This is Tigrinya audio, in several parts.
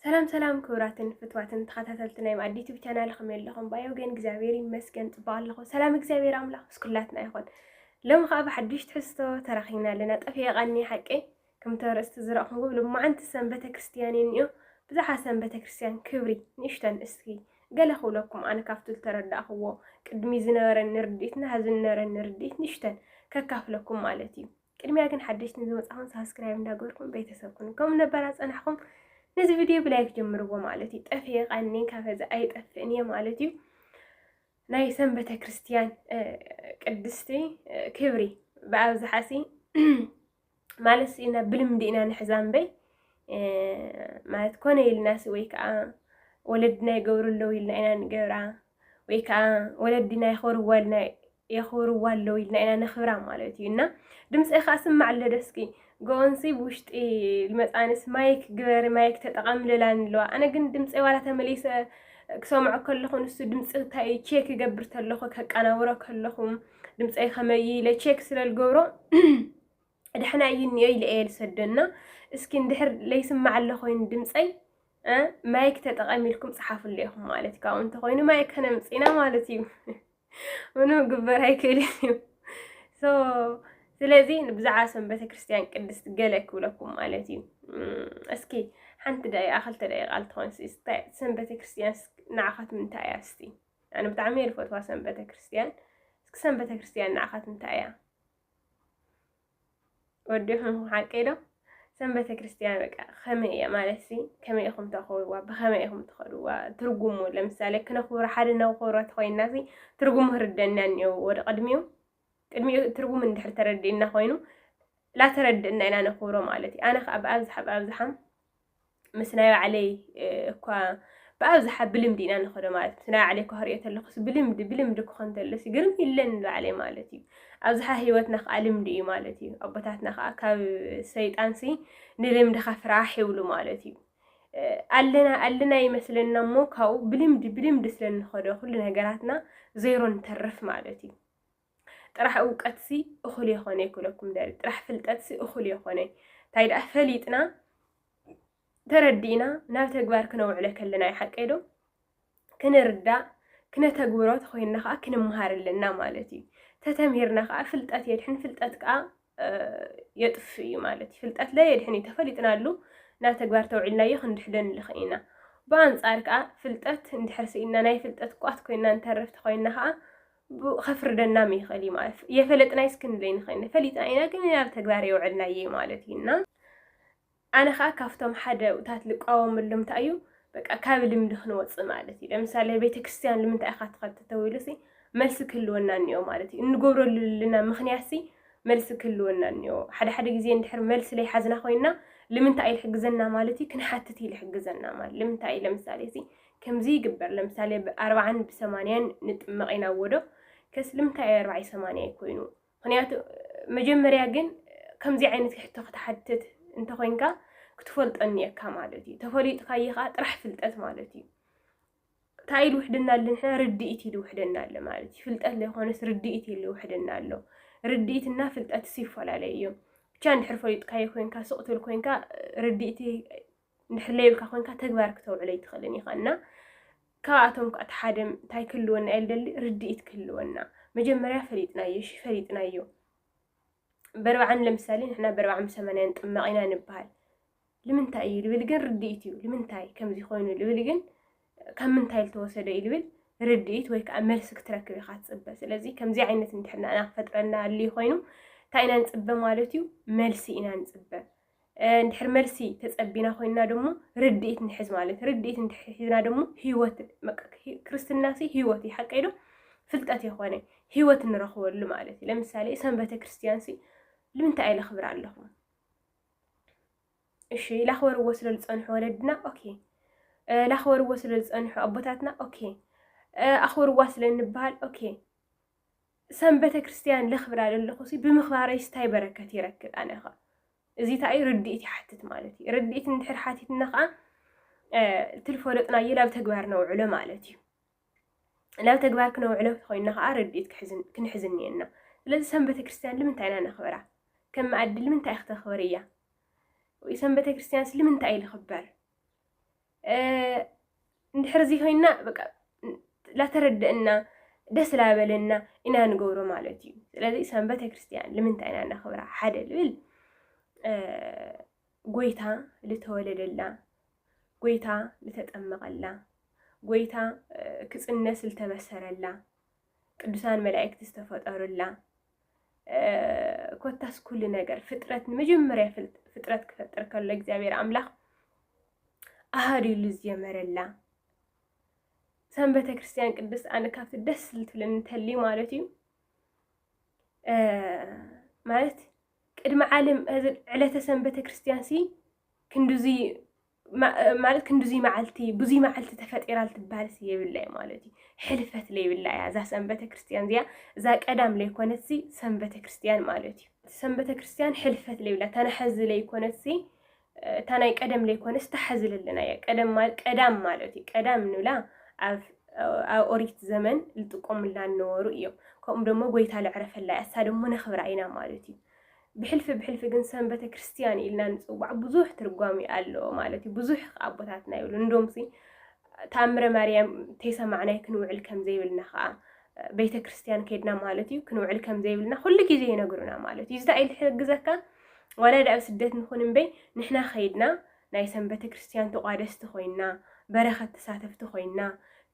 ሰላም ሰላም ክቡራትን ፍትዋትን ተኸታተልቲ ናይ ማኣዲ ዩቱብ ቻናል ከመይ ኣለኹም? ባዮ ግን እግዚኣብሔር ይመስገን ፅቡቅ ኣለኹ። ሰላም እግዚኣብሔር ኣምላኽ ምስ ኩላትና ይኹን። ሎሚ ከዓ ብሓዱሽ ትሕዝቶ ተራኺብና ኣለና። ጠፊኤ ቃኒ ሓቂ ከምቲ ኣርእስቲ ዝረእኹም ግብ ልማዓንቲ ሰም ቤተክርስትያን እኒኦ ብዛሓ ሰም ቤተክርስትያን ክብሪ ንእሽተን እስኪ ገለ ክብለኩም ኣነ ካብቲ ዝተረዳእኽዎ ቅድሚ ዝነበረኒ ርድኢትና ሕዚ ዝነበረኒ ርድኢት ንእሽተን ከካፍለኩም ማለት እዩ። ቅድሚያ ግን ሓደሽቲ ንዝመፃኹም ሳብስክራይብ እንዳገበርኩም ቤተሰብ ኩኑ ከም ነበራ ፀናሕኹም ነዚ ቪድዮ ብላይክ ጀምርዎ ማለት እዩ ጠፍየ ቃኒ ካፈዚ ኣይጠፍእን እየ ማለት እዩ ናይ ሰም ቤተ ክርስትያን ቅድስቲ ክብሪ ብኣብዝሓ ሲ ማለት ሲ ናብ ብልምዲ ኢና ንሕዛ እምበይ ማለት ኮነ ኢልናሲ ወይ ከዓ ወለድና ይገብሩ ኣለዉ ኢልና ኢና ንገብራ ወይ ከኣ ወለዲና የኽብርዋልና የኽብርዋ ኣለዉ ኢልና ኢና ነኽብራ ማለት እዩ እና ድምፀይ ከኣ ስማዕ ኣሎ ዶ እስኪ ጎንሲ ብውሽጢ ልመፃንስ ማይክ ግበሪ ማይክ ተጠቐሚ ልላኒ ኣለዋ ኣነ ግን ድምፀይ ዋላ ተመሊሰ ክሰምዖ ከለኹ ንሱ ድምፂ እንታይ እዩ ቼክ ይገብር ተለኹ ከቀናብሮ ከለኹ ድምፀይ ከመይ ኢለ ቼክ ስለ ዝገብሮ ደሕና እዩ እኒኦ ኢለ እየ ዝሰዶ እና እስኪ እንድሕር ለይስማዕ ኣሎ ኮይኑ ድምፀይ ማይክ ተጠቐሚ ኢልኩም ፀሓፍሉ ኢኹም ማለት እዩ ካብኡ እንተኮይኑ ማይክ ከነምፅና ማለት እዩ ምኑ ግበር ኣይክእልን እዩ ስለዚ ብዛዕባ ሰም ቤተክርስትያን ቅድስት ገለ ክብለኩም ማለት እዩ እስኪ ሓንቲ ደቂቃ ክልተ ደቂቃ ልትኾን ሰም ቤተክርስትያን ንዓኻት ምንታይ እያ እስቲ ብጣዕሚ እየ ዝፈትዋ ሰም ቤተክርስትያን እስኪ ሰም ቤተክርስትያን ንዓኻት እንታይ እያ ወዲኹም ሓቂ ዶ ሰም ቤተ ክርስቲያን በቃ ከመይ እያ ማለት ሲ ከመይ ኢኹም ተኽብርዋ ብኸመይ ኢኹም ትኸድዋ ትርጉሙ ለምሳሌ ክነኽብሮ ሓደ ነኽብሮ ተኮይና ሲ ትርጉሙ ክርደና እኒኦ ወደ ቅድሚኡ ቅድሚኡ ትርጉሙ እንድሕር ተረዲእና ኮይኑ ላተረድእና ኢና ነኽብሮ ማለት እዩ ኣነ ከዓ ብኣብዝሓ ብኣብዝሓም ምስ ናይ ባዕለይ እኳ ብኣብዝሓ ብልምዲ ኢና ንኸዶ ማለት ምስ ናይ ባዕለይ እኳ ክሪኦ ተለኹስ ብልምዲ ብልምዲ ክኾን ተለሲ ግርም ይለን ንባዕለይ ማለት እዩ ኣብዝሓ ህይወትና ከዓ ልምዲ እዩ ማለት እዩ ኣቦታትና ከዓ ካብ ሰይጣንሲ ንልምድኻ ፍራሕ ይብሉ ማለት እዩ ኣለና ኣለና ይመስለና እሞ ካብኡ ብልምዲ ብልምዲ ስለ ንኸዶ ኩሉ ነገራትና ዜሮ ንተርፍ ማለት እዩ ጥራሕ እውቀትሲ እኹል የኾነይ ክብለኩም ደሊ ጥራሕ ፍልጠትሲ እኹል የኾነይ እንታይ ደኣ ፈሊጥና ተረዲእና ናብ ተግባር ክነውዕለ ከለና ይሓቀይ ዶ ክንርዳእ ክነተግብሮ ተኾይንና ከዓ ክንምሃር ኣለና ማለት እዩ ተተምሂርና ከዓ ፍልጠት የድሕን ፍልጠት ከዓ የጥፍ እዩ ማለት እዩ። ፍልጠት ለየድሕን እዩ፣ ተፈሊጥናሉ ናብ ተግባር ተውዒልናዮ ክንድሕዶ ንልኽእ ኢና። ብኣንጻር ከኣ ፍልጠት እንድሕር ስኢንና ናይ ፍልጠት ቋት ኮይንና ንተርፍ ተኾይንና ከኣ ከፍርደናም ይኽእል እዩ ማለት እዩ። የፈለጥናይስ ክንብለይ ንኽእል ፈሊጥና ኢና ግን ናብ ተግባር የውዕልናዮ ማለት እዩ እና ኣነ ከኣ ካብቶም ሓደ ኡታት ልቃወመሎም እንታይ እዩ በቃ ካብ ልምዲ ክንወጽእ ማለት እዩ ለምሳሌ ቤተክርስትያን ልምንታይ ኢካ ትከድ ተተዊሉሲ መልሲ ክህልወና እንኦ ማለት እዩ እንገብረሉ ልልና ምክንያትሲ መልሲ ክህልወና እንኦ ሓደ ሓደ ግዜ እንድሕር መልሲ ለይሓዝና ኮይና ልምንታይ እዩ ልሕግዘና ማለት እዩ ክንሓትት እዩ ልሕግዘና ማለት ልምንታይ እዩ ለምሳሌሲ ከምዚ ይግበር ለምሳሌ ብኣርብዓን ብሰማንያን ንጥመቅ ኢና እዎዶ ከስ ልምንታይ እዩ ኣርብዓይ ሰማንያይ ኮይኑ ምክንያቱ መጀመርያ ግን ከምዚ ዓይነት ሕቶ ክትሓትት እንተኮይንካ ክትፈልጦ እኒኤካ ማለት እዩ። ተፈሊጥካዮ ከዓ ጥራሕ ፍልጠት ማለት እዩ። እንታይ ኢሉ ውሕድና ኣሎ ንሕና ርድኢት ኢሉ ውሕድና ኣሎ ማለት እዩ። ፍልጠት ዘይኮነስ ርድኢት ኢሉ ውሕድና ኣሎ። ርድኢትና ፍልጠትስ ይፈላለዩ እዮም። ብቻ እንድሕር ፈሊጥካዮ ኮይንካ ስቕ ትብል ኮይንካ ርድኢት እንድሕለይ ኢልካ ኮንካ ተግባር ክተውዕሎ ኣይትኽእልን ኢኻ እና ካብኣቶም ከዓ ተሓደ እንታይ ክህልወና እየ ልደሊ ርድኢት ክህልወና መጀመርያ ፈሊጥናዮ እሺ ፈሊጥናዮ በርብዓን ለምሳሌ ንሕና በርብዓን ብሰማንያን ጥመቕ ኢና ንበሃል ልምንታይ እዩ ልብል ግን ርድኢት እዩ ልምንታይ ከምዚ ኮይኑ ልብል ግን ካብ ምንታይ ዝተወሰደ እዩ ልብል ርድኢት ወይ ከዓ መልሲ ክትረክብ ኢኻ ትፅበ ስለዚ ከምዚ ዓይነት እንድሕና ኢና ክፈጥረና ኣልዩ ኮይኑ እንታይ ኢና ንፅበ ማለት እዩ መልሲ ኢና ንፅበ እንድሕር መልሲ ተጸቢና ኮይንና ደሞ ርድኢት ንሕዝ ማለት ርድኢት እንድሕር ሒዝና ደሞ ህይወት ክርስትናሲ ህይወት እዩ ሓቀይ ዶ ፍልጠት የኾነ ህይወት ንረኽበሉ ማለት እዩ ለምሳሌ ሰንበተ ክርስቲያንሲ ልምንታይ ኣይለኽብር ኣለኹ እሺ ላኽበርዎ ስለ ዝፀንሑ ወለድና ኦኬ ላኽበርዎ ስለ ዝፀንሑ ኣቦታትና ኦኬ ኣኽብርዋ ስለ እንበሃል ኦኬ ሰንበተ ክርስትያን ለኽብራ ለለኹሲ ብምኽባረይስ ታይ በረከት ይረክብ ኣነኸ እዚ ታይ እዩ ርድኢት ይሓትት ማለት እዩ ርድኢት እንድሕር ሓቲትና ኸዓ ትልፈለጥናዮ ናብ ተግባር ነውዕሎ ማለት እዩ ናብ ተግባር ክነውዕሎ ተኾይንና ኸዓ ርድኢት ክንሕዝ እኒኤና ስለዚ ሰንበተ ክርስትያን ልምንታይ ኢና ነኽብራ ከም መኣዲ ልምንታይ ክተኽብር እያ ወይ ሰንበተ ክርስትያንስ ልምንታይ እዩ ልኽበር እንድሕር እዚ ኮይና በቃ ላተረደእና ደስ ላበለና ኢና ንገብሮ ማለት እዩ ስለዚ ሰንበተ ክርስትያን ልምንታይ ኢና ነኽብራ ሓደ ልብል ጎይታ ልተወለደላ ጎይታ ልተጠመቐላ ጎይታ ክፅነስ ልተበሰረላ ቅዱሳን መላእክቲ ዝተፈጠሩላ ኮታስ ኩሉ ነገር ፍጥረት ንመጀመርያ ፍጥረት ክፈጥር ከሎ እግዚኣብሔር ኣምላኽ ኣሃዱ ኢሉ ዝጀመረላ ሰም ቤተ ክርስቲያን ቅድስት ኣነ ካብቲ ደስ ዝትብለኒ እንተሊ ማለት እዩ ማለት ቅድሚ ዓለም ዕለተ ሰም ቤተ ክርስቲያን ሲ ክንድዙይ ማለት ክንዲዙይ መዓልቲ ብዙይ መዓልቲ ተፈጢራ ልትበሃልሲ የብላ እዩ ማለት እዩ ሕልፈት ለይብላ እያ እዛ ሰንበተ ክርስትያን እዚኣ እዛ ቀዳም ለይኮነትሲ ሰንበተ ክርስትያን ማለት እዩ ሰንበተ ክርስትያን ሕልፈት ለይብላ ተናሐዚ ለይኮነትሲ እታ ናይ ቀደም ለይኮነስ ተሓዚ ለለና እያ ቀዳም ማለት እዩ ቀዳም ንብላ ኣብ ኦሪት ዘመን ልጥቀሙላ እነበሩ እዮም ከምኡ ደሞ ጎይታ ልዕረፈላ እያ እሳ ደሞ ነኽብራ ኢና ማለት እዩ ብሕልፊ ብሕልፊ ግን ሰንበተ ክርስትያን ኢልና ንጽዋዕ ብዙሕ ትርጓሜ ኣለዎ ማለት እዩ። ብዙሕ ከኣ ኣቦታትና ይብሉ እንዶምሲ ተኣምረ ማርያም ተይሰማዕናይ ክንውዕል ከም ዘይብልና ከኣ ቤተ ክርስትያን ከድና ማለት እዩ ክንውዕል ከም ዘይብልና ኩሉ ግዜ ይነግሩና ማለት እዩ። ዝታይ ልሕግዘካ ዋላ ዳኣብ ስደት ንኹን እምበይ ንሕና ከይድና ናይ ሰንበተ ክርስትያን ተቋደስቲ ኮይና በረኸት ተሳተፍቲ ኮይና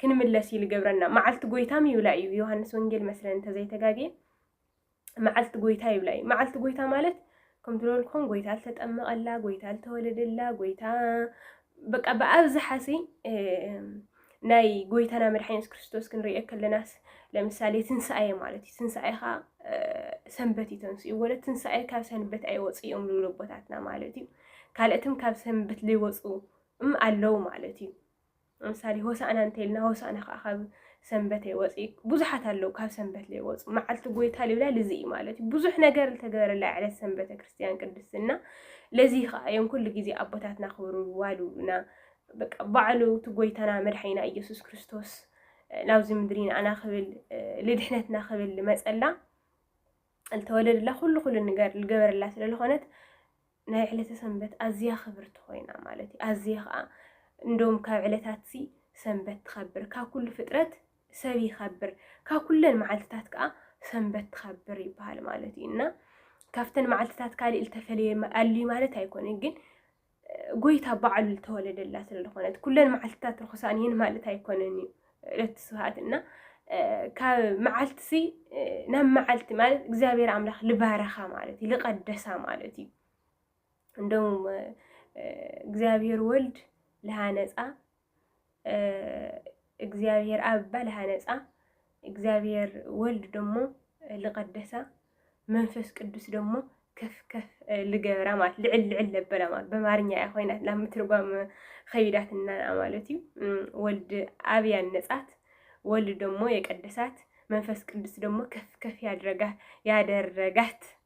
ክንምለስ እዩ ልገብረና። መዓልቲ ጎይታም ይብላ እዩ ዮሃንስ ወንጌል መስለን እንተዘይተጋግየ መዓልቲ ጎይታ ይብላ እዩ። መዓልቲ ጎይታ ማለት ከም ትበልኩም ጎይታ ዝተጠመቐላ፣ ጎይታ ዝተወለደላ፣ ጎይታ በቃ ብኣብዝሓ ሲ ናይ ጎይታና መድሓኒ የሱስ ክርስቶስ ክንሪኦ ከለናስ ለምሳሌ ትንሳኤ ማለት እዩ። ትንሳኤ ከዓ ሰንበት እዩ ተንስኡ ወለ ትንሳኤ ካብ ሰንበት ኣይወፅእ እዮም ዝብሉ ኣቦታትና ማለት እዩ። ካልእትም ካብ ሰንበት ዘይወፁ እም ኣለው ማለት እዩ። ምሳሌ ሆሳእና እንተይልና ሆሳእና ከዓ ካብ ሰንበት ኣይወፅእ እዩ። ብዙሓት ኣለዉ ካብ ሰንበት ዘይወፁ መዓልቲ ጎይታ ልብላል እዚ እዩ ማለት እዩ። ብዙሕ ነገር ዝተገበረላ ዕለት ሰንበተ ክርስቲያን ቅድስት እና ለዚ ከዓ እዮም ኩሉ ግዜ ኣቦታትና ክብርዋ ልብሉና በቃ ባዕሉ እቲ ጎይታና መድሓኒና ኢየሱስ ክርስቶስ ናብዚ ምድሪ ንኣና ክብል ልድሕነትና ክብል መፀላ ዝተወደደላ ኩሉ ኩሉ ንገር ልገበረላ ስለ ዝኾነት ናይ ዕለተ ሰንበት ኣዝያ ክብርቲ ኮይና ማለት እዩ ኣዝየ ከዓ እንዶም ካብ ዕለታት ሲ ሰንበት ትኸብር ካብ ኩሉ ፍጥረት ሰብ ይኸብር ካብ ኩለን መዓልትታት ከዓ ሰንበት ትኸብር ይበሃል ማለት እዩ እና ካብተን መዓልትታት ካልእ ዝተፈለየ ኣልዩ ማለት ኣይኮነን ግን ጎይታ በዓሉ ዝተወለደላ ስለ ዝኾነት ኩለን መዓልትታት ርኹሳን እየን ማለት ኣይኮነን እዩ ዕለት ስብሃት እና ካብ መዓልቲ ሲ ናብ መዓልቲ ማለት እግዚኣብሔር ኣምላኽ ልባረኻ ማለት እዩ ልቀደሳ ማለት እዩ እንደውም እግዚኣብሔር ወልድ ልሃነፃ እግዚኣብሔር ኣብ ባል ሃነጻ፣ እግዚኣብሔር ወልድ ደሞ ልቀደሳ፣ መንፈስ ቅዱስ ደሞ ከፍ ከፍ ልገብራ ማለት ልዕል ልዕል ለበላ ማለት በማርኛ እያ ኮይናት ናብ ምትርጓም ኸይዳትና ማለት እዩ። ወልድ ኣብ ያነጻት፣ ወልድ ደሞ የቀደሳት፣ መንፈስ ቅዱስ ደሞ ከፍ ከፍ ያደረጋት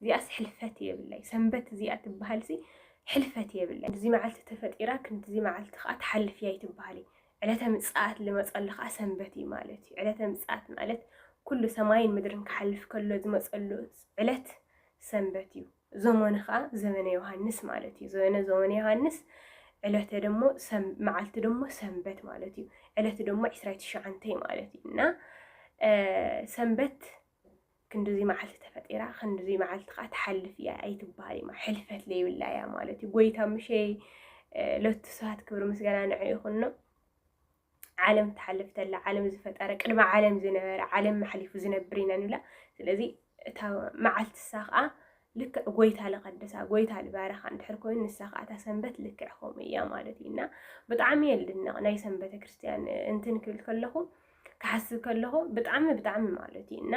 እዚኣስ ሕልፈት የብላይ ሰንበት እዚኣ ትበሃልሲ ሕልፈት የብላይ እዚ መዓልቲ ተፈጢራ ክንድዚ መዓልቲ ከዓ ትሓልፍ እያ ኣይትበሃሊ ዕለተ ምጽኣት ልመጸሉ ከዓ ሰንበት እዩ ማለት እዩ ዕለተ ምጽኣት ማለት ኩሉ ሰማይን ምድርን ክሓልፍ ከሎ ዝመጸሉ ዕለት ሰንበት እዩ ዘመኑ ከዓ ዘመነ ዮሃንስ ማለት እዩ ዘመነ ዘመነ ዮሃንስ ዕለተ ደሞ መዓልቲ ደሞ ሰንበት ማለት እዩ ዕለቲ ደሞ ዕስራይ ትሽዓንተይ ማለት እዩ እና ሰንበት ክንድዚ መዓልቲ ተፈጢራ ክንድዚ መዓልቲ ከዓ ትሓልፍ እያ ኣይትበሃልማ ሕልፈት ለይብላ እያ ማለት እዩ ጎይታ ምሸ ለቱ ስብሐት ክብሪ ምስጋና ንዕ ይኹኖ ዓለም ትሓልፍ ተላ ዓለም ዝፈጠረ ቅድሚ ዓለም ዝነበረ ዓለም መሓሊፉ ዝነብር ኢና ንብላ ስለዚ እታ መዓልቲ ንሳ ከዓ ልክዕ ጎይታ ልቀድሳ ጎይታ ልባረኻ እንድሕር ኮይኑ ንሳ ከዓ እታ ሰንበት ልክዕ ከምኡ እያ ማለት እዩ እና ብጣዕሚ የልድነቕ ናይ ሰንበተ ክርስትያን እንትን ክብል ከለኹ ክሓስብ ከለኹ ብጣዕሚ ብጣዕሚ ማለት እዩ እና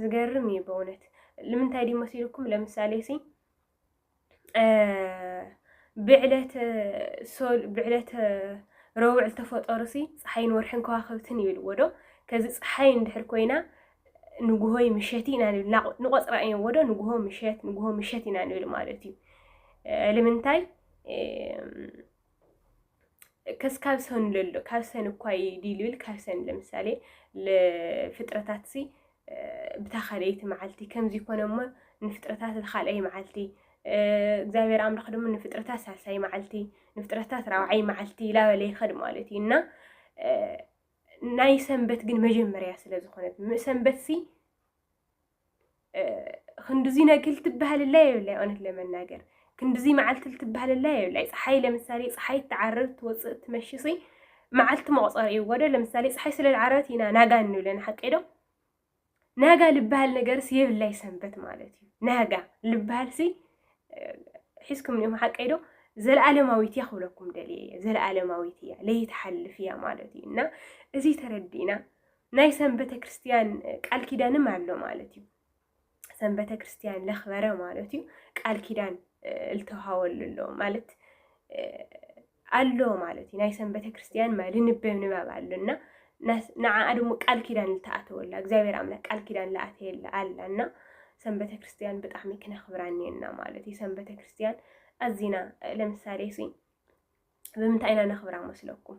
ዝገርም እዩ በእውነት ልምንታይ ድዩ መሲልኩም ለምሳሌ ሲ ብዕለተ ሶል ብዕለተ ረውዕ ዝተፈጠሩ ሲ ፀሓይን ወርሕን ከዋኸብትን ይብልዎ ዶ ከዚ ፀሓይ እንድሕር ኮይና ንጉሆይ ምሸት ኢና ንብል ንቆፅራ እዮም ወዶ ንጉሆ ምሸት ንጉሆ ምሸት ኢና ንብል ማለት እዩ ልምንታይ ከስ ካብ ሰኑ ለሎ ካብ ሰን እኳ ዲል ብል ካብ ሰን ለምሳሌ ፍጥረታት ሲ ብታ ካልአይቲ መዓልቲ ከምዚ ኮነ እሞ ንፍጥረታት ካልኣይ መዓልቲ እግዚኣብሔር ኣምላኽ ድማ ንፍጥረታት ሳልሳይ መዓልቲ ንፍጥረታት ራብዓይ መዓልቲ ይላበለ ይኸድ ማለት እዩ እና ናይ ሰንበት ግን መጀመርያ ስለ ዝኾነት ሰንበት ሲ ክንድዚ ነግል ትበሃልላ የብላይ እውነት ለመናገር ክንድዚ መዓልቲ ልትበሃልላ የብላይ ፀሓይ ለምሳሌ ፀሓይ ትዓርብ ትወፅእ ትመሽሲ መዓልቲ መቁፀሪ እዩ ወደ ለምሳሌ ፀሓይ ስለ ዝዓረበት ኢና ናጋ እንብለን ሓቂ ዶ ናጋ ልበሃል ነገርስ የብላይ ሰንበት ማለት እዩ ናጋ ልበሃልሲ ሒዝኩም ኒኹም ሓቂ ዶ ዘለዓለማዊት እያ ክብለኩም ደልየ እየ ዘለዓለማዊት እያ ለይትሓልፍ እያ ማለት እዩ እና እዚ ተረዲእና ናይ ሰንበተ ክርስትያን ቃል ኪዳንም ኣሎ ማለት እዩ። ሰንበተ ክርስትያን ለኽበረ ማለት እዩ ቃል ኪዳን እልተውሃወሉ ኣሎ ማለት ኣሎ ማለት እዩ። ናይ ሰንበተ ክርስትያን ልንበብ ንባብ ኣሎና ንዓኣ ድሞ ቃል ኪዳን ዝተኣተወላ እግዚኣብሔር ኣምላክ ቃል ኪዳን ለኣተየላ ኣላና ሰንበተ ክርስትያን ብጣዕሚ ክነኽብራ እኒአና ማለት እዩ። ሰንበተ ክርስትያን ኣዚና ለምሳሌ ሲ ብምንታይ ኢና ነኽብራ መስለኩም?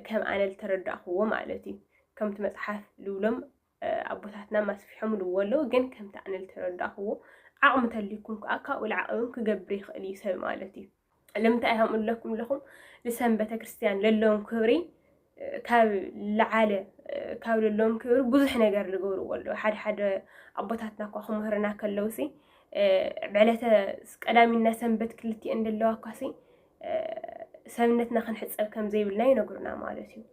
ከም ኣነ ዝተረዳእኽዎ ማለት እዩ ከምቲ መጽሓፍ ዝብሎም ኣቦታትና ማስፊሖም ልዎ ኣለዉ ግን ከምቲ ኣነ ዝተረዳእኽዎ ዓቕሚ ተልዩኩም ከዓ ካብኡ ልዓቐ እውን ክገብር ይኽእል እዩ ሰብ ማለት እዩ ልምንታይ ሃምኡ ኣለኩም ኣለኹም ንሰም ቤተ ክርስቲያን ለለዎም ክብሪ ካብ ልዓለ ካብ ልሎም ክብሪ ብዙሕ ነገር ልገብርዎ ኣለዉ ሓደ ሓደ ኣቦታትና እኳ ክምህርና ከለውሲ ዕለተ ቀዳሚና ሰንበት ክልቲኤን ደለዋ እኳሲ ሰብነትና ክንሕፀብ ከም ዘይብልና ይነግሩና ማለት እዩ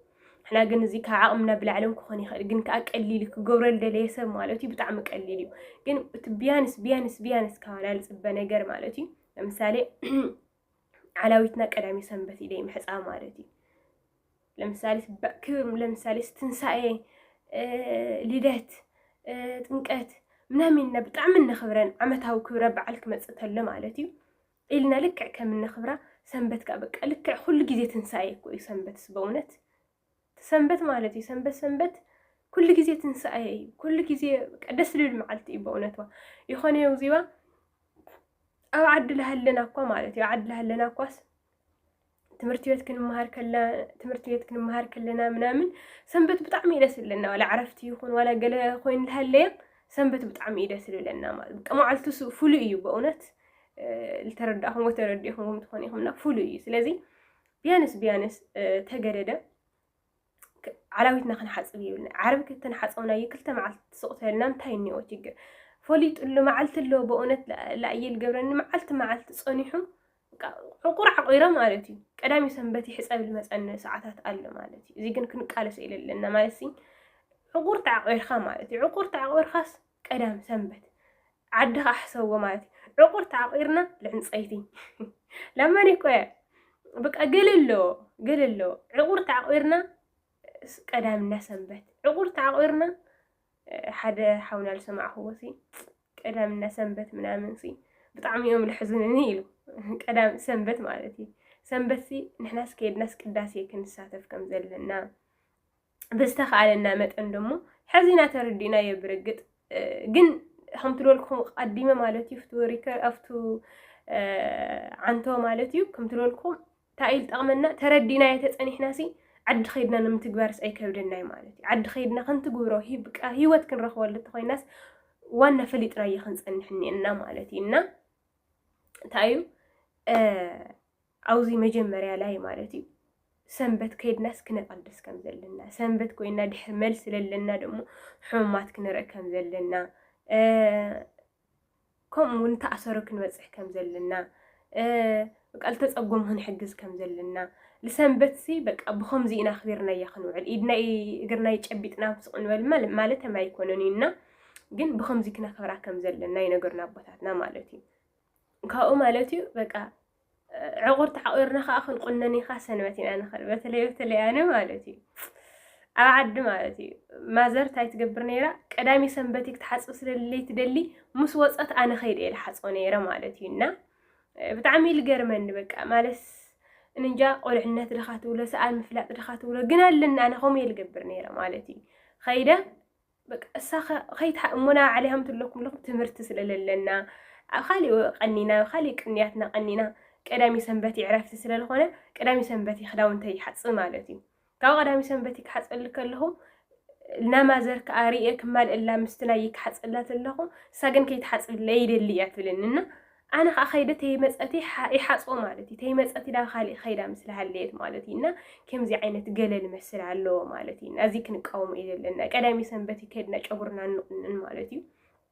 ሕና ግን እዚ ካብ ዓቕምና ብላዕልን ክኾን ይኽእል ግን ከዓ ቀሊል እዩ ክገብረ ልደለየ ሰብ ማለት እዩ ብጣዕሚ ቀሊል እዩ ግን እቲ ቢያንስ ቢያንስ ቢያንስ ካባና ልፅበ ነገር ማለት እዩ ለምሳሌ ዓላዊትና ቀዳሜ ሰንበት ኢለ ምሕፃ ማለት እዩ። ለምሳሌ ለምሳሌ ትንሳኤ፣ ልደት፣ ጥምቀት ምናምን ኢና ብጣዕሚ እነኽብረን ዓመታዊ ክብረ በዓል ክመፅእ ተሎ ማለት እዩ ኢልና ልክዕ ከም እነኽብራ ሰንበት ከዓ በቃ ልክዕ ኩሉ ግዜ ትንሳኤ እኮ እዩ ሰንበትስ በእውነት እቲ ሰንበት ማለት እዩ ሰንበት ሰንበት ኩሉ ግዜ ትንሳኤ እዩ ኩሉ ግዜ በቃ ደስ ልብል መዓልቲ እዩ በእውነትዋ ይኾነ የውዚባ ኣብ ዓዲ ላሃለና እኳ ማለት እዩ ዓዲ ላሃለና እኳስ ትምህርቲ ቤት ክንመሃር ከለ ትምህርቲ ቤት ክንመሃር ከለና ምናምን ሰንበት ብጣዕሚ እዩ ደስ ዝብለና ዋላ ዕረፍቲ ይኹን ዋላ ገለ ኮይኑ ዝሃለየ ሰንበት ብጣዕሚ እዩ ደስ ዝብለና ማለት በቃ መዓልቱ ፍሉይ እዩ በእውነት ዝተረዳእኹምዎ ተረዲእኹምዎም ትኾኑ ኢኹምና ፍሉይ እዩ ስለዚ ቢያንስ ቢያንስ ተገደደ ዓላዊትና ክንሓፅብ ይብልና ዓርቢ ከተንሓፀውናዩ ክልተ መዓልቲ ትስቕ ተበልና እንታይ እኒኦ ችግር ፈሊጡሉ መዓልቲ ኣለዎ በእውነት ላእየ ልገብረኒ መዓልቲ መዓልቲ ፀኒሑ ዕቁር ዓቂረ ማለት እዩ ቀዳሚ ሰንበት ይሕፀብ ልመፀኒ ሰዓታት ኣሎ ማለት እዩ እዚ ግን ክንቃለሶ ኢለ ኣለና ማለት ሲ ዕቁር ተዓቂርካ ማለት እዩ ዕቁር ተዓቂርካስ ቀዳም ሰንበት ዓድኻ ኣሕሰዎ ማለት እዩ ዕቑር ተዓቂርና ልዕንፀይቲ ለመን ይቆየ ብቃ ገለ ኣለዎ ገለ ኣለዎ ዕቑር ተዓቂርና ቀዳምና ሰንበት ዕቑር ተዓቂርና ሓደ ሓውና ዝሰማዕኽዎ ሲ ቀዳምና ሰንበት ምናምን ሲ ብጣዕሚ እዮም ልሕዝንኒ ኢሉ ቀዳም ሰንበት ማለት እዩ ሰንበት ሲ ንሕናስ ከየድናስ ቅዳሴ ክንሳተፍ ከም ዘለና ብዝተኻኣለና መጠን ደሞ ሐዚና ተረዲእናዮ ብርግጥ ግን ከምቲ ዝበልኩኹም ቀዲመ ማለት እዩ ፍቱ ሪከር ኣብቱ ዓንቶ ማለት እዩ ከምቲ ዝበልኩኹም እንታይ ጠቕመና ተረዲእናዮ ተፀኒሕና ሲ ዓዲ ከይድና ንምትግባርስ ኣይከብደናይ ማለት እዩ ዓዲ ከይድና ክንትግብሮ ሂወት ክንረኽበሉ ተኮይናስ ዋና ፈሊጥናዮ ክንፀንሕ እኒኤና ማለት እዩ እና እንታይ እዩ ኣብዚ መጀመርያ ላይ ማለት እዩ ሰንበት ከይድናስ ክነቐድስ ከም ዘለና ሰንበት ኮይና ድሕሪ መልሲ ለለና ደግሞ ሕሙማት ክንርኢ ከም ዘለና ከምኡ እውን ተኣሰሩ ክንበፅሕ ከም ዘለና በቃ ልተጸጎሙ ክንሕግዝ ከም ዘለና ልሰንበትሲ በቃ ብኸምዚ ኢና ኣኽቢርናያ ክንውዕል ኢድናይ እግርናይ ጨቢጥና ስቕ ንበል ማለተም ኣይኮነን እዩ እና ግን ብኸምዚ ክነኽብራ ከም ዘለና ይነገሩና ኣቦታትና ማለት እዩ ካብኡ ማለት እዩ በቃ ዕቑር ተሓቂርና ከዓ ክንቁነን ኢኻ ሰንበት ኢና ንኽእል በተለይ በተለይ ኣነ ማለት እዩ ኣብ ዓዲ ማለት እዩ ማዘር እንታይ ትገብር ነይራ ቀዳሚ ሰንበት ክትሓፅብ ስለለይ ትደሊ ምስ ወፀት ኣነ ከይደ እየ ዝሓፅቦ ነይረ ማለት እዩ እና ብጣዕሚ እዩ ልገርመኒ በቃ ማለትስ እንጃ ቆልዕነት ድኻ ትብሎ ሰኣን ምፍላጥ ድኻ ትብሎ ግን ኣለኒ ኣነ ከምኡ እየ ልገብር ነይረ ማለት እዩ ኸይደ በቃ እሳ ከይትሓ እሞ ናብ ዓለይ ሃምትለኩም ኣለኹም ትምህርቲ ስለለለና ኣብ ካሊእ ቀኒና ኣብ ካሊእ ቅንያትና ቀኒና ቀዳሚ ሰንበት ዕረፍቲ ስለዝኾነ ቀዳሚ ሰንበት ክዳውንተይ ይሓፅብ ማለት እዩ ካብ ቀዳሚ ሰንበት ይካሓጸሊ ከለኹ ናማዘር ከኣ ርእየ ክማልእላ ምስቲ ናይ ይካሓጸላ ተለኹ እሳ ግን ከይትሓጽብለይ ይደሊ እያ ትብለኒ እና ኣነ ከኣ ከይደ ተይመጸቲ ይሓጽቦ ማለት እዩ ተይመጸቲ ናብ ካልእ ከይዳ ምስ ሃለየት ማለት እዩ እና ከምዚ ዓይነት ገለል መስል ኣለዎ ማለት እዩ እዚ ክንቃወሞ እዩ ዘለና ቀዳሚ ሰንበት ይከድና ጨጉርና ንቁንን ማለት እዩ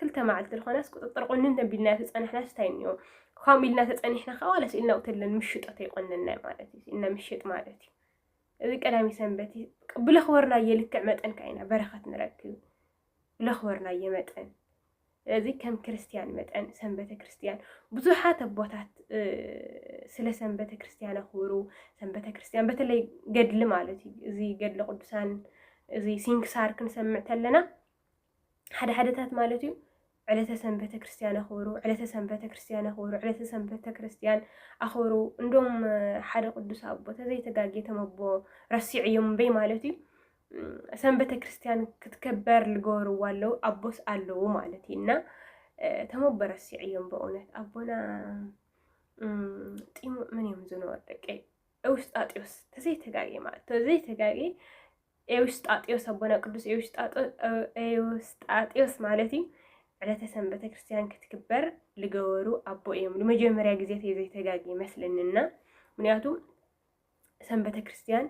ክልተ መዓልቲ ዝኾናስ ቁፅጥር ቁንን ተቢልና ተፀናሕናስ እንታይ እኒኦ ከምኡ ኢልና ተፀኒሕና ከዓ ዋላ ስኢልና ቁተለን ምሽጦ ተይቆነናይ ማለት እዩ ስኢልና ምሽጥ ማለት እዩ እዚ ቀዳሚ ሰንበት ብለኽበርናየ ልክዕ መጠን ከዓ ኢና በረኸት ንረክብ ብለኽበርናየ መጠን እዚ ከም ክርስትያን መጠን ሰንበተ ክርስትያን ብዙሓት ኣቦታት ስለ ሰንበተ ክርስትያን ኣኽብሩ ሰንበተ ክርስትያን በተለይ ገድሊ ማለት እዩ እዚ ገድሊ ቅዱሳን እዚ ሲንክሳር ክንሰምዕ ተለና ሓደ ሓደታት ማለት እዩ ዕለተ ሰንበተ ክርስቲያን ኣኽብሩ፣ ዕለተ ሰንበተ ክርስቲያን ኣኽብሩ፣ ዕለተ ሰንበተ ክርስቲያን ኣኽብሩ። እንዶም ሓደ ቅዱስ ኣቦ ተዘይተጋጌ ተመቦ ረሲዑ እዮም እምበይ ማለት እዩ ሰንበተ ክርስቲያን ክትከበር ልገበርዋ ኣለዉ ኣቦስ ኣለዉ ማለት እዩ እና ተመቦ ረሲዑ እዮም በእውነት ኣቦና ጢሙ ምን እዮም ዝነበሩ ደቂ ውስጣጢዎስ ተዘይተጋጌ ማለት ተዘይተጋጌ ኤውስጣጢዮስ ኣቦና ቅዱስ ኤውስጣጢዮስ ማለት እዩ ዕለተ ሰንበተ ክርስቲያን ክትግበር ዝገበሩ ኣቦ እዮም። ንመጀመርያ ግዜ ተይ ዘይተጋግ ይመስለንና ምክንያቱ ሰንበተ ክርስቲያን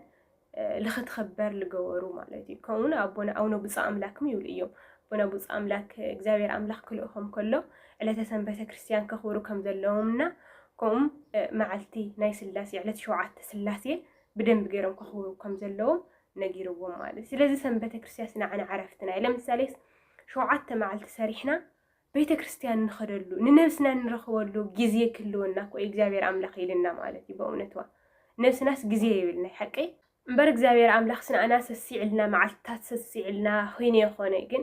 ልኽትኽበር ዝገበሩ ማለት እዩ። ከምኡውን ኣቦና ኣቡነ ብፁዕ ኣምላክም ይብሉ እዮም። ኣቦና ብፁዕ ኣምላክ እግዚኣብሔር ኣምላክ ክልእኾም ከሎ ዕለተ ሰንበተ ክርስቲያን ከኽብሩ ከም ዘለዎም እና ከምኡ መዓልቲ ናይ ስላሴ ዕለት ሸውዓተ ስላሴ ብደንቢ ገይሮም ከኽብሩ ከም ዘለዎም ነጊርዎም ማለት እዩ። ስለዚ ሰም ቤተክርስቲያስ ንዓና ዕረፍትና እዩ። ለምሳሌስ ሸውዓተ መዓልቲ ሰሪሕና ቤተክርስቲያን ንኸደሉ ንነብስና ንረኽበሉ ግዜ ክህልወና እኮ እዩ እግዚኣብሔር ኣምላኽ ኢልና ማለት እዩ። በእውነትዋ ነብስናስ ግዜ የብልና ሓቀይ እምበር እግዚኣብሔር ኣምላኽ ስንኣና ሰሲዕልና መዓልትታት ሰሲዕልና ኺይነ የኾነ ግን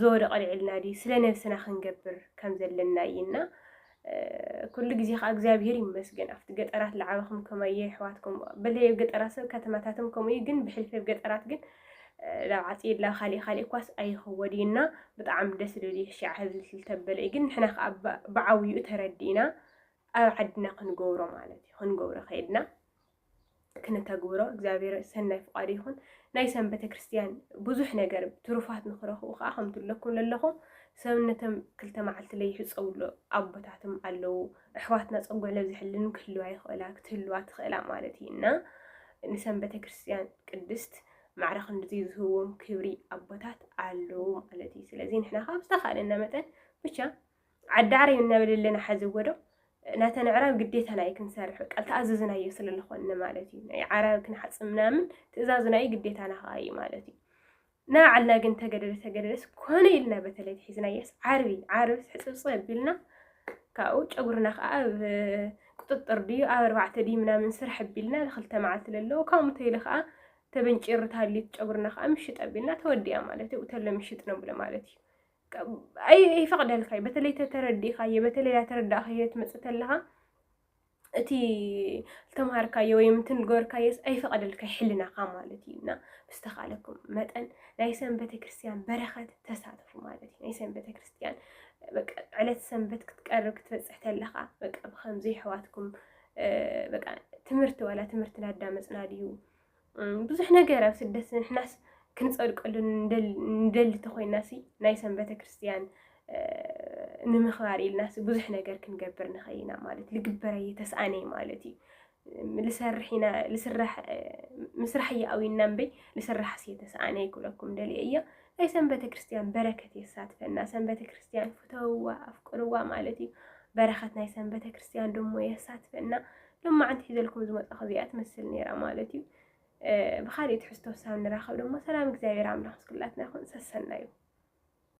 ዝወደቐ ኣልዒልና ድዩ ስለ ነብስና ክንገብር ከም ዘለና እይና ኩሉ ግዜ ከዓ እግዚኣብሄር ይመስገን ኣብቲ ገጠራት ልዓበኹም ከማየ የሕዋትኩም በለይ ኣብ ገጠራት ሰብ ከተማታትም ከምኡ እዩ ግን ብሕልፊ ኣብ ገጠራት ግን ናብ ዓፂድላ ካሊእ ካሊእ እኳስ ኣይኸወድ እዩና ብጣዕሚ ደስ ልብል እዩ ሽዓ ህዝቢ ስልተበለ እዩ ግን ንሕና ከዓ ብዓብይኡ ተረዲእና ኣብ ዓድና ክንገብሮ ማለት እዩ ክንገብሮ ከይድና ክንተግብሮ እግዚኣብሔር ሰናይ ፍቃዱ ይኹን። ናይ ሰም ቤተክርስትያን ብዙሕ ነገር ትሩፋት ንክረኽቡ ከዓ ከምቲ ኣለኩም ለለኹም ሰብነቶም ክልተ መዓልቲ ለይሕፀውሎ ኣቦታትም ኣለዉ። ኣሕዋትና ፀጉዕ ለብዝሕልን ክህልዋ ይኽእላ ክትህልዋ ትኽእላ ማለት እዩ እና ንሰም ቤተክርስትያን ቅድስት ማዕረ ክንድዚ ዝህዎም ክብሪ ኣቦታት ኣለዉ ማለት እዩ። ስለዚ ንሕና ካብ ዝተኻእለና መጠን ብቻ ዓዳዕሪ እናበለለና ሓዚ ወዶ ናተን ኣዕራብ ግዴታና እዩ ክንሰርሕ በቃ ተኣዘዝናዮ ስለ ዝኾንነ ማለት እዩ ናይ ዓራብ ክንሓጽብ ምናምን ትእዛዝና እዩ ግዴታና ከዓ እዩ ማለት እዩ ናባዕልና ግን ተገደደ ተገደደስ ኮነ ኢልና በተለይ ትሒዝናዮስ ዓርቢ ዓርቢ ሕፅብፅ ኣቢልና ካብኡ ጨጉርና ከዓ ኣብ ቁጥጥር ድዩ ኣብ ኣርባዕተ ድዩ ምናምን ስራሕ ኣቢልና ንክልተ መዓልቲ ዘለዎ ካብኡ ተይሉ ከዓ ተበንጪሩ ታሊት ጨጉርና ከዓ ምሽጥ ኣቢልና ተወዲያ ማለት እዩ ተሎ ምሽጥ ነብሎ ማለት እዩ ይፈቅደልካ በተለይ ተተረዲእካዮ በተለይ ዳተረዳእካዮ ትመፅእ ተለካ እቲ ዝተምሃርካዮ ወይ እቲ ንገበርካዮ ኣይፈቅደልካ ሕልናካ ማለት እዩ እና ብዝተካለኩም መጠን ናይ ሰንበተ ክርስትያን በረከት ተሳተፉ ማለት እዩ ናይ ሰንበተ ክርስትያን በቃ ዕለት ሰንበት ክትቀርብ ክትበፅሕ ተለካ በቃ ብከምዚ ኣሕዋትኩም በቃ ትምህርቲ ዋላ ትምህርቲ ናዳመፅና ድዩ ብዙሕ ነገር ኣብ ስደት ንሕናስ ክንጸድቀሉ ንደሊ ተኾይናሲ ናይ ሰም ቤተ ክርስቲያን ንምኽባር ኢልናሲ ብዙሕ ነገር ክንገብር ንኽእል ኢና ማለት ልግበር ኣየ ተስኣነ ማለት እዩ ልሰርሕ ኢና ልስራሕ ምስራሕ እየ ኣዊና እምበይ ልስራሕ ስየ ተስኣነ ይክብለኩም ደልየ እያ ናይ ሰም ቤተ ክርስቲያን በረከት የሳትፈና ሰም ቤተ ክርስቲያን ፍተውዋ ኣፍቅርዋ ማለት እዩ በረከት ናይ ሰም ቤተ ክርስቲያን ደሞ የሳትፈና ሎማዓንቲ ሒዘልኩም ዝመፃኹ እዚኣ ትመስል ነይራ ማለት እዩ ብካሊእ ትሕዝቶ ሳብ ንራኸብ ደሞ ሰላም እግዚኣብሔር ኣምላኽ ምስ ኩላትና ይኹን ሰሰናዩ